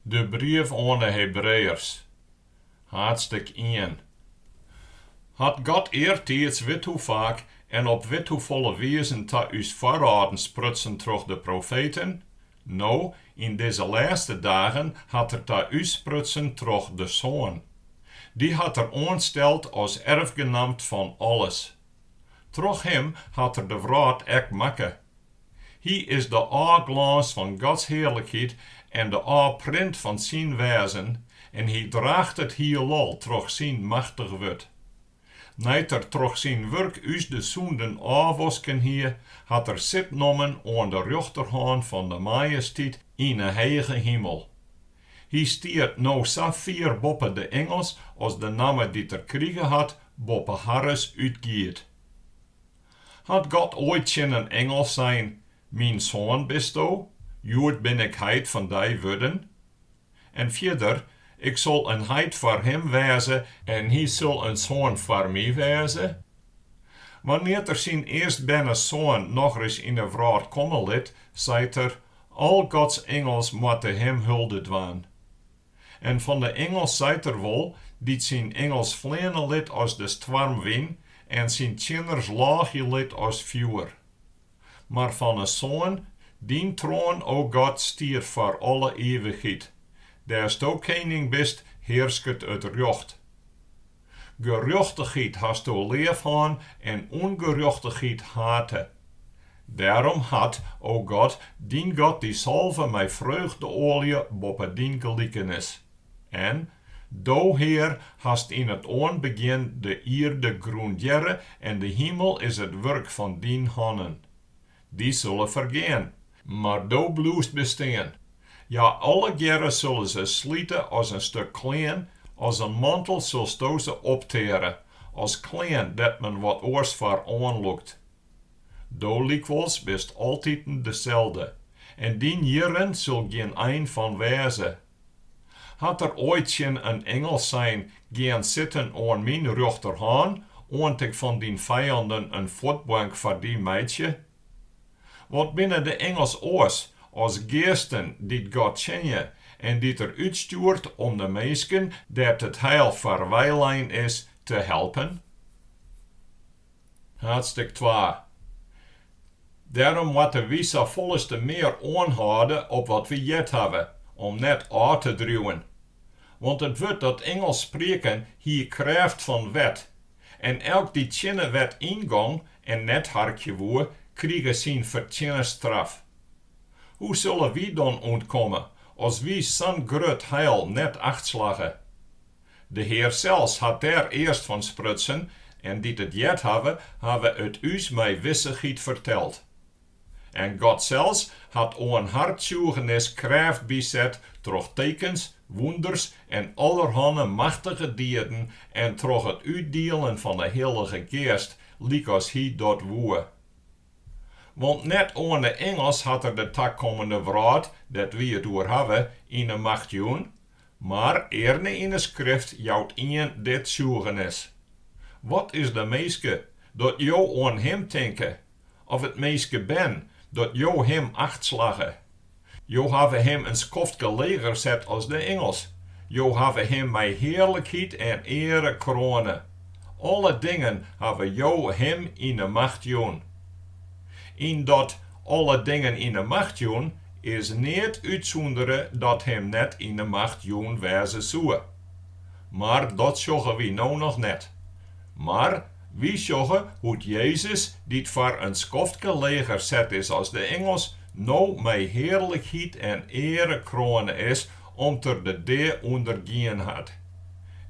De brief oan 'e Hebreeërs, haadstk I. Hat God eartiids withoefaak en op withoefolle wizen ta ús foarâlden sprutsen troch de profeten, no, yn dizze lêste dagen hat Er ta ús sprutsen troch de Soan. Dy hat Er oansteld as erfgenamt fan alles. Troch Him hat Er de wrâld ek makke. Hy is de ôfglâns fan Gods hearlikheid en de ôfprint fan syn wêzen, en hy draacht it hielal troch syn machtich wurd. Nei't er troch syn wurk ús de sûnden ôfwasken hie, hat er sit nommen oan de rjochterhân fan de Majesteit yn 'e hege himel. Hy stiet no sa fier boppe de ingels as de namme dy't er krige hat boppe harres útgiet. Hat God oait tsjin in ingel sein, Myn soan bisto, hjoed bin ik heit fan dy wurden? En fierder, Ik sil in heit foar him wêze, en hy sil in soan foar my wêze? Wannear't er syn earstberne Soan nochris yn 'e wrâld komme lit, seit er, Al Gods ingels moatte him hulde dwaan. En fan de ingels seit er wol, dy't syn ingels fleane lit as de stoarmwyn en syn tsjinners lâgje lit as fjoer. Mar fan 'e Soan, Dyn troan, o God, stiet foar alle ivichheid, dêr'sto kening bist, hearsket it rjocht. Gerjochtichheid hasto leaf hân en ûngerjochtichheid hate. Dêrom hat, o God, dyn God dy salve mei freugdeoalje boppe dyn gelikensen. En Do, Hear, hast yn it oanbegjin de ierde grûndearre en de himel is it wurk fan dyn hannen. Dy sille fergean, Mar do bliuwst bestean. Hja allegearre sulle ferslite as in stuk klean, as in mantel silsto se opteare, as klean dêr't men wat oars foar oanlûkt. Do lykwols bist altiten deselde, en dyn jierren sil gjin ein fan wêze. Hat er oait tsjin in ingel sein, Gean sitten oan myn rjochterhân, oant ik fan dyn fijanden in fuotbank foar dy meitsje? Want binne de ingels oars as geasten dy't God tsjinje en dy't Er útstjoert om de minsken dêr't it heil foar weilein is te helpen? Haadstik twa. Dêrom moatte wy safolleste mear oanhâlde op wat wy heard hawwe, om net ôf te driuwen. Want it wurd dat ingels sprieken hie krêft fan wet, En elk dy't tsjin 'e wet yngong en net harkje woe, krige syn fertsjinne straf. Hoe sulle wy dan ûntkomme, as wy sa'n grut heil net achtslagge? De Hear sels hat dêr earst fan sprutsen, en dy't it heard hawwe, hawwe it ús mei wissichheid ferteld. En God sels hat oan har tsjûgenis krêft byset troch tekens, wûnders en allerhanne machtige dieden en troch it útdielen fan 'e Hillige Geast, lykas hy dat woe. Want net oan 'e ingels hat er de takommende wrâld, dêr't wy it oer hawwe, yn 'e macht jûn, Mar earne yn 'e Skrift jout ien dit tsjûgenis, Wat is de minske, dat Jo oan him tinke? Of it minskebern, dat Jo him acht slagge? Jo hawwe him in skoftke leger set as de ingels, Jo hawwe him mei hearlikheid en eare kroane. Alle dingen hawwe Jo him yn 'e macht jûn. Yn dat alle dingen yn 'e macht jûn is neat útsûndere dat him net yn 'e macht jûn wêze soe. Mar dat sjogge wy no noch net. Mar wy sjogge hoe't Jezus, dy't foar in skoftke leger set is as de ingels, no mei hearlikheid en eare kroane is om't er de dea ûndergien hat.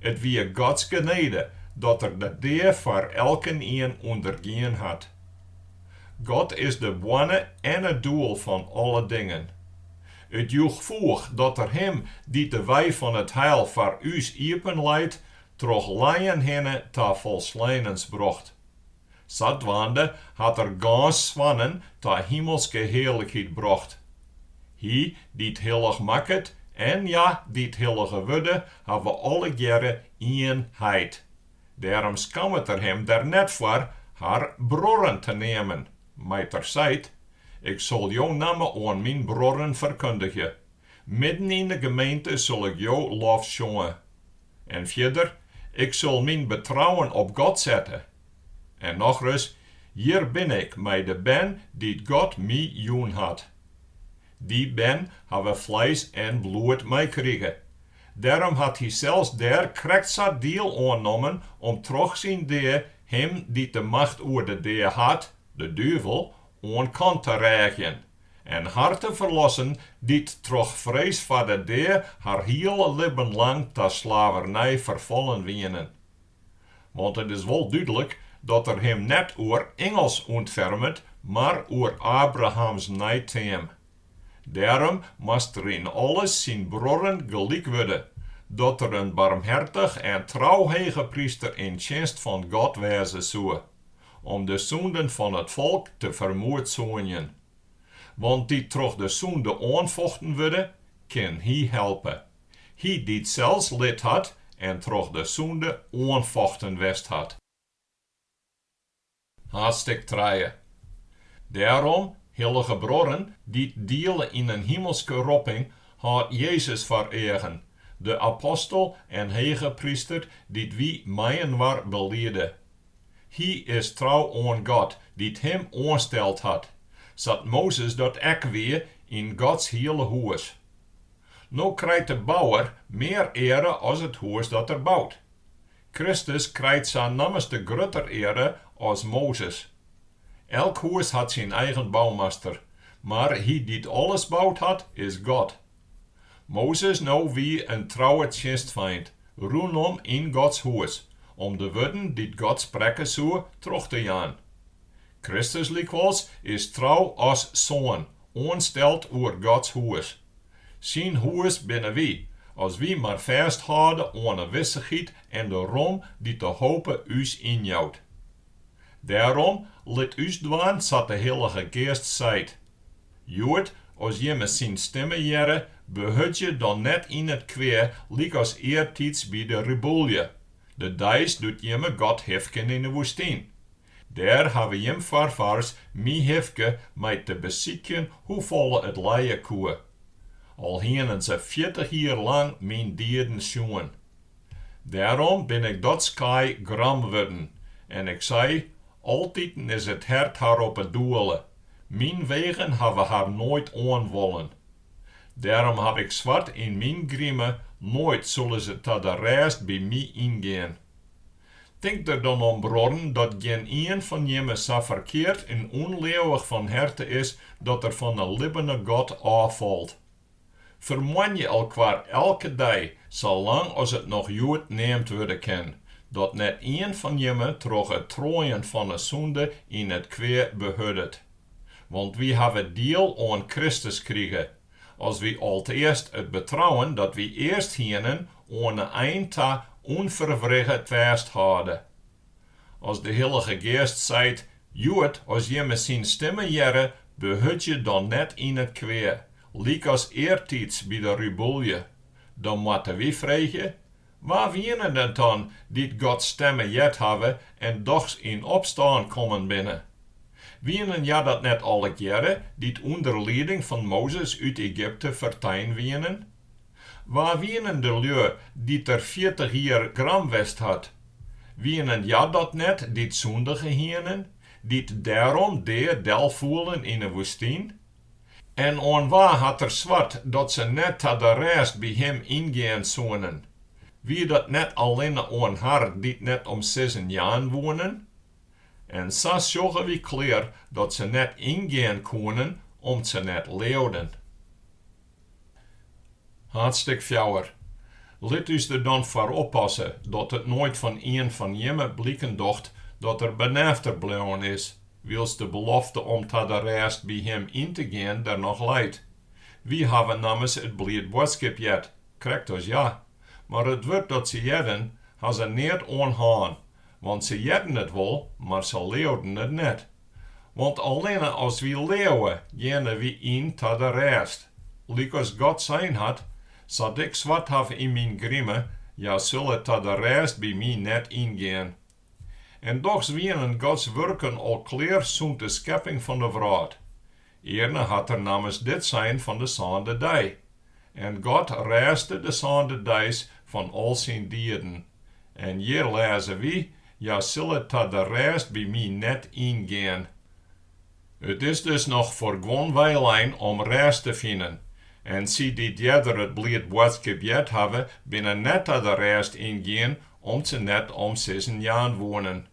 It wie Gods genede dat er de dea foar elkenien ûndergien hat. God is de boarne en it doel fan alle dingen. It joech foech dat Er Him dy't de wei fan it heil foar ús iepenleit, troch lijen hinne ta folsleinens brocht. Sadwaande hat Er gâns soannen ta himelske hearlikheid brocht. Hy dy't hillich makket en hja dy't hillige wurde, hawwe allegearre ien heit. Dêrom skammet er him der net foar har bruorren te neamen, mei't er seit, Ik sil jo namme oan myn bruorren ferkundigje, midden yn de gemeente sil ik jo lof sjonge. En fierder, Ik sil myn betrouwen op God sette. En nochris, Hjir bin ik mei de bern dy't God my jûn hat. Dy bern hawwe fleis en bloed meikrige, Dêrom hat hy sels dêr krekt sa diel oan nommen om troch syn dea him dy't de macht oer de dea hat, de duvel, oan kant te rêgjen, en har te ferlossen dy't troch frees foar de dea har hiele libben lang ta slavernij ferfallen wienen. Want it is wol dúdlik dat er him net oer ingels ûntfermet, mar oer Abrahams neiteam. Dêrom moast er yn alles syn bruorren gelyk wurde, dat er in barmhertich en trou hegepryster yn tsjinst fan God wêze soe, om de sûnden fan it folk te fermoedsoenjen. Want dy't troch de sûnde oanfochten wurde, kin hy helpe. Hy dy't sels lit hat en troch de sûnde oanfochten west hat. Haadstik trije. Dêrom, hillige bruorren, dy't diele yn in himelske ropping, hâld Jezus foar eagen, de apostel en hegepryster dy't wy mei-inoar belide. Hy is trou oan God dy't him oansteld hat, sa't Mozes dat ek wie yn Gods hiele hûs. No krijt de bouwer mear eare as it hûs dat er bout. Kristus krijt sa nammenste grutter eare as Mozes. Elk hûs hat syn eigen boumaster, mar hy dy't alles bout hat, is God. Mozes no wie in trouwe tsjinstfeint rûnom yn Gods hûs om de wurden dy't God sprekke soe troch te jaan. Kristus lykwols is trou as Soan oansteld oer Gods hûs. Syn hûs binne wy, as wy mar fêsthâlde oan 'e wissichheid en de rom dy't de hope ús ynjout. Dêrom, lit ús dwaan sa't de Hillige Geast seit. Hjoed, as jimme syn stimme hearre, behurdzje dan net yn it kwea lykas eartiids by de rebûlje, de deis doe't jimme God hifken yn 'e woestyn, Dêr hawwe jim foarfaars my hifke mei te besykjen hoefolle it lije koe. Al hienen se fjirtich jier lang myn dieden sjoen. Dêrom bin ik dat skaai gram wurden en ik sei, Altiten is it hert har op 'e doele, myn wegen hawwe har noait oan wollen. Dêrom haw ik swart yn myn grime, noait sille se ta de rêst by my yngean. Tink der dan om bruorren dat gjin ien fan jimme sa ferkeard en ûnleauwich fan herte is dat er fan 'e libbene God ôffalt. Fermoanje elkoar elke dei, sa lang as it noch hjoed neamd wurde kin, dat net ien fan jimme troch it troaien fan 'e sûnde yn it kwea behurdet. Want wy hawwe diel oan Kristus krige, As wy alteast it betrouwen dat wy earst hienen oan 'e ein ta ûnferwrigge fêsthâlde. As de Hillige Geast seit, Hjoed, as jimme syn stimme hearre, behurdzje dan net yn it kwea, lykas eartiids by de rebûlje, dan moatte wy freegje, Wa wienen it dan dy't Gods stimme heard hawwe en dochs yn opstân kommen binne? Wienen hja dat net allegearre, dy't ûnder lieding fan Mozes út Egypte fertein wienen? Wa wienen de lju dy't er fjirtich jier gram west hat? Wienen hja dat net dy't sûndige hienen, dy't dêrom dea delfoelen yn 'e woestyn? En oan wa hat er swart dat se net ta de rêst by him yngean soenen? Wie dat net allinne oan har dy't net om sizzen jaan woenen? En sa sjogge wy klear dat se net yngean koenen, om't se net leauden. Haadstik fjouwer. Lit ús der dan foar oppasse dat it noait fan ien fan jimme bliken docht dat er benêfter bleaun is, wylst de belofte om ta de rêst by him yn te gean der noch leit. Wy hawwe nammers it bliid boadskip heard, krekt as hja, mar it wurd dat se hearden, ha se neat oan hân, want se hearden it wol, mar se leauden it net. Want allinne as wy leauwe, geane wy yn ta de rêst. Lykas God sein hat, Sa't Ik swart haw yn Myn grime, hja sille ta de rêst by My net yngean. En dochs wienen Gods wurken al klear sûnt de skepping fan de wrâld. Earne hat er nammers dit sein fan de sânde dei. En God rêste de sânde deis fan al syn dieden. En hjir lêze wy, Hja sille ta de rêst by my net yngean. It is dus noch foar guon weilein om rêst te finen. En sy dy't earder it bliid boadskip heard hawwe, binne net ta de rêst yngien, om't se net om sizzen jaan woenen.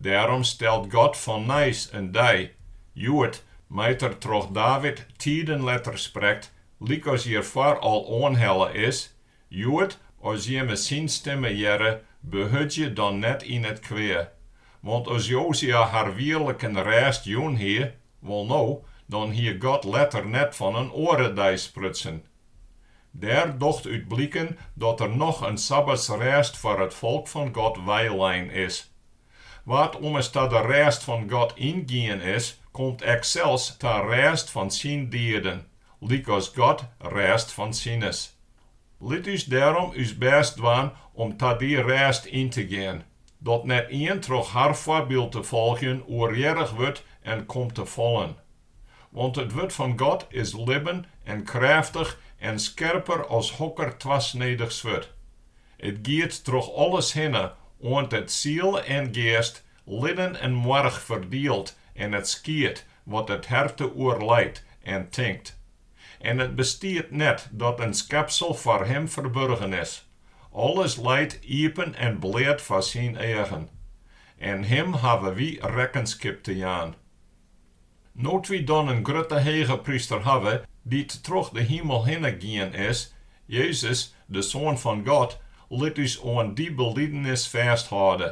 Dêrom stelt God fan nijs in dei, hjoed, mei't er troch David tiden letter sprekt, lykas hjirfoar al oanhelle is, Hjoed, as jimme syn stimme hearre, behurdzje dan net yn it kwea. Want as Jozua har wierliken rêst jûn hie, wolno, dan hie God letter net fan in oare dei sprutsen. Dêr docht út bliken dat der noch in sabbatsrêst foar it folk fan God weilein is. Wa't ommers ta de rêst fan God yngien is, komt ek sels ta rêst fan syn dieden, lykas God rêst fan sines. Lit ús dêrom ús bêst dwaan om ta dy rêst yn te gean, dat net ien troch har foarbyld te folgjen oerhearrich wurdt en komt te fallen. Want it wurd fan God is libben en krêftich en skerper as hokker twasnedich swurd. It giet troch alles hinne, oant it siel en geast, liden en moarch ferdielt en it skiedt wat it herte oerleit en tinkt. En it bestiet net dat in skepsel foar Him ferburgen is. Alles leit iepen en bleat foar Syn eagen. En Him hawwe wy rekkenskip te jaan. No't wy dan in grutte hegepryster hawwe, dy't troch de himel hinne gien is, Jezus, de Soan fan God, lit ús oan dy belidenis fêsthâlde.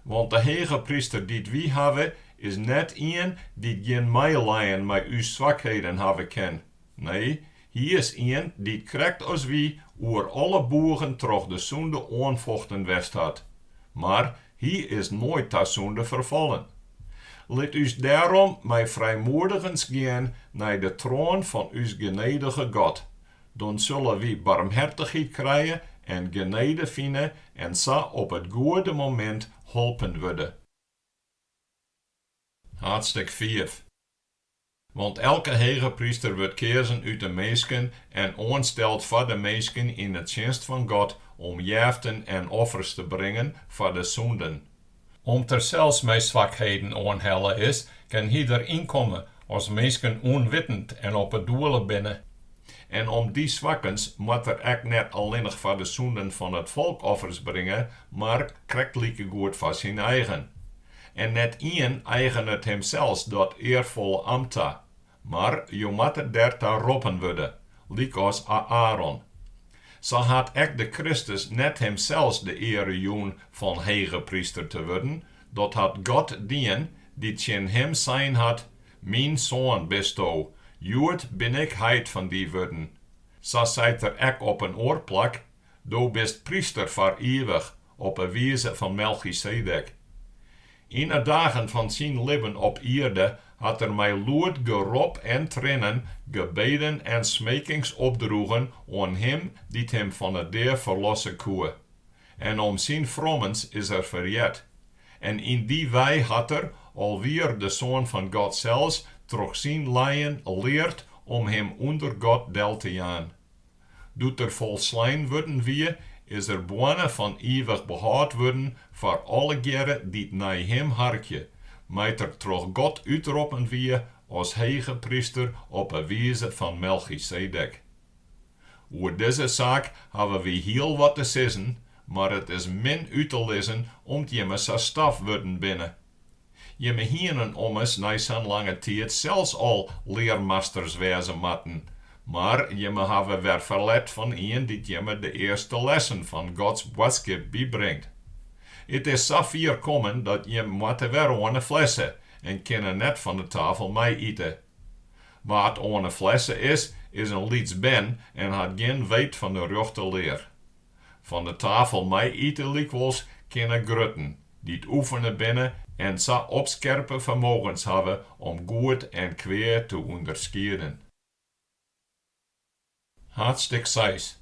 Want de hegepryster dy't wy hawwe, is net ien dy't gjin meileien mei ús swakheden hawwe kin, Nee, hy is ien dy't krekt as wy oer alle boegen troch de sûnde oanfochten west hat, mar hy is noait ta sûnde ferfallen. Lit ús dêrom mei frijmoedigens gean nei de troan fan ús genedige God, dan sille wy barmhertichheid krije en genede fine en sa op it goede momint holpen wurde. Hadstik fiif. Want elke hegepryster wurdt keazen út de minsken en oansteld foar de minsken yn 'e tsjinst fan God, om jeften en offers te bringen foar de sûnden. Om't er sels mei swakheden oanhelle is, kin hy der yn komme as minsken ûnwittend en op 'e doele binne. En om dy swakkens moat er ek net allinnich foar de sûnden fan it folk offers bringe, mar krekt likegoed foar syn eigen. En net ien eigenet himsels dat earfolle amt ta, mar jo moatte der ta roppen wurde, lykas Aaron. Sa hat ek de Kristus net himsels de eare jûn fan hegepryster te wurden, dat hat God dien, dy't tsjin him sein hat, Myn Soan bisto, hjoed bin ik heit fan dy wurden. Sa seit er ek op in oar plak, Do bist pryster foar ivich, op 'e wize fan Melchisedek. Yn 'e dagen fan syn libben op ierde hat er mei lûd gerop en triennen gebeden en smekings opdroegen oan Him dy't him fan 'e dea ferlosse koe. En om syn frommens is er ferheard. En yn dy wei hat er, al wie er de Soan fan God sels, troch syn lijen leard om him ûnder God del te jaan. Doe't er folslein wurden wie, is er boarne fan ivich behâld wurden foar allegearre dy't nei him harkje, mei't er troch God útroppen wie as hegepryster op 'e wize fan Melchisedek. Oer dizze saak hawwe wy hiel wat te sizzen, mar it is min út te lizzen om't jimme sa staaf wurden binne. Jimme hienen ommers nei sa'n lange tiid sels al learmasters wêze moatten, mar jimme hawwe wer ferlet fan ien dy't jimme de earste lessen fan Gods boadskip bybringt. It is sa fier kommen dat jim moatte wer oan 'e flesse en kinne net fan 'e tafel mei ite. Wa't oan 'e flesse is, is in lyts bern en hat gjin weet fan 'e rjochte lear. Fan de tafel mei ite lykwols kinne grutten, dy't oefene binne en sa op skerpe fermogens hawwe om goed en kwea te ûnderskieden. Haadstik seis.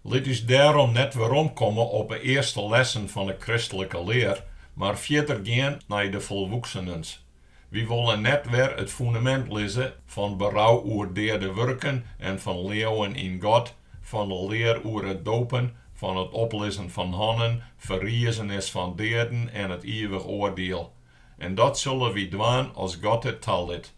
Lit ús dêrom net weromkomme op 'e earste lessen fan 'e kristlike lear, mar fierder gean nei de folwoeksenens. Wy wolle net wer it fundamint lizze fan berou oer deade wurken en fan leauwen yn God, fan de lear oer it dopen, fan it oplizzen fan hannen, ferrizenis fan deaden en it iivich oardiel. En dat sille wy dwaan as God it talit.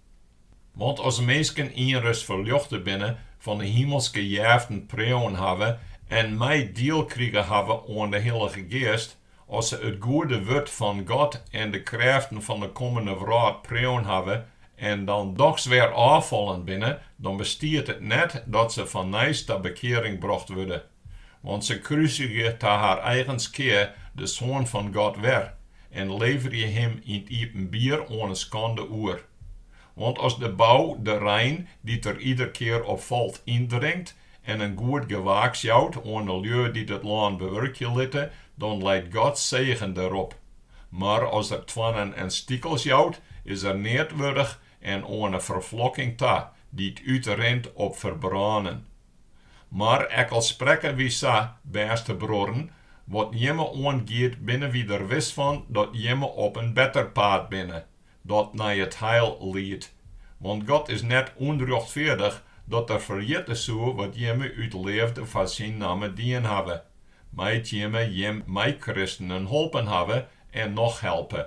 Want as minsken ienris ferljochte binne, fan de himelske jeften preauen hawwe en mei diel krige hawwe oan de Hillige Geast, As se it goede wurd fan God en de krêften fan de kommende wrâld preauen hawwe en dan dochs wer ôffallen binne, dan bestiet it net dat se fannijs ta bekearing brocht wurde. Want se krusigje ta har eigen skea de Soan fan God wer en leverje Him yn 't iepenbier oan 'e skande oer. Want as de bou de rein, dy't der ieder kear op falt, yndrinkt en in goed gewaaks jout oan 'e lju dy't it lân bewurkje litte, dan leit Gods segen derop. Mar as er toarnen en stikels jout, is er neat wurdich en oan 'e ferflokking ta, dy't útrint op ferbrânen. Mar ek al sprekke wy sa, bêste bruorren, wat jimme oangiet binne wy der wis fan dat jimme op in better paad binne, dat nei it heil liedt. Want God is net ûnrjochtfeardich dat Er ferjitte soe wat jimme út leafde foar Syn namme dien hawwe, mei't jimme jim meikristenen holpen hawwe en noch helpe.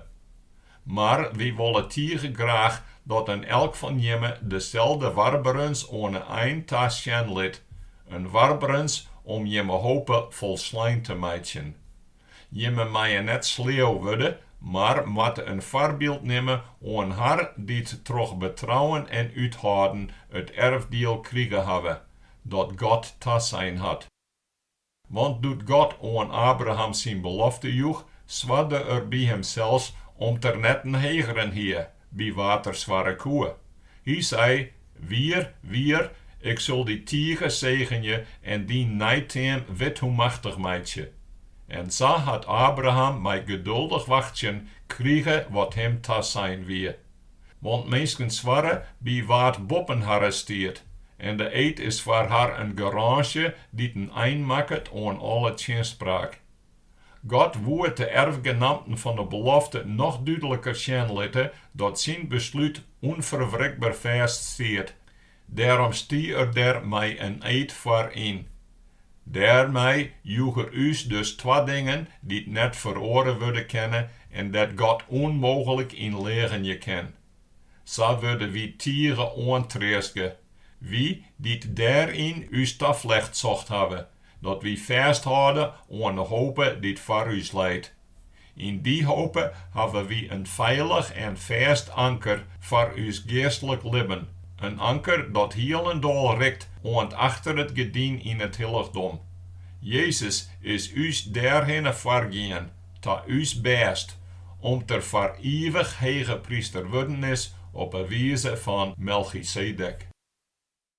Mar wy wolle tige graach dat in elk fan jimme deselde warberens oan 'e ein ta sjen lit, in warberens om jimme hope folslein te meitsjen. Jimme meie net sleau wurde, mar moatte in foarbyld nimme oan har dy't troch betrouwen en úthâlden it erfdiel krige hawwe, dat God tasein hat. Want doe't God oan Abraham syn belofte joech, swarde Er by Himsels om't Er net in hegeren hie, by wa't er swarre koe. Hy sei, Wier, wier, ik sil dy tige segenje en dyn neiteam withoe machtich meitsje. En sa hat Abraham mei geduldich wachtsjen krige wat him tasein wie. Want minsken swarre by wa't boppen harre stiet, en de eed is foar har in garânsje dy't in ein makket oan alle tsjinspraak. God woe de erfgenamten fan de belofte noch dúdliker sjen litte dat syn beslút ûnferwrikber fêst stiet. Dêrom stie er der mei in eed foar yn. Dêrmei joech er ús dus twa dingen dy't net feroare wurde kinne en dêr't God ûnmooglik yn leagenje kin. Sa wurde wy tige oantreastge, wy dy't dêryn ús taflecht socht hawwe, dat wy fêsthâlde oan de hope dy't foar ús leit. Yn dy hope hawwe wy in feilich en fêst anker foar ús geastlik libben, in anker dat hielendal rikt oant achter it gerdyn yn it hillichdom. Jezus is ús dêrhinne foargien. ta ús bêst, om't er foar ivich hegepryster wurden is op 'e wize fan Melchisedek.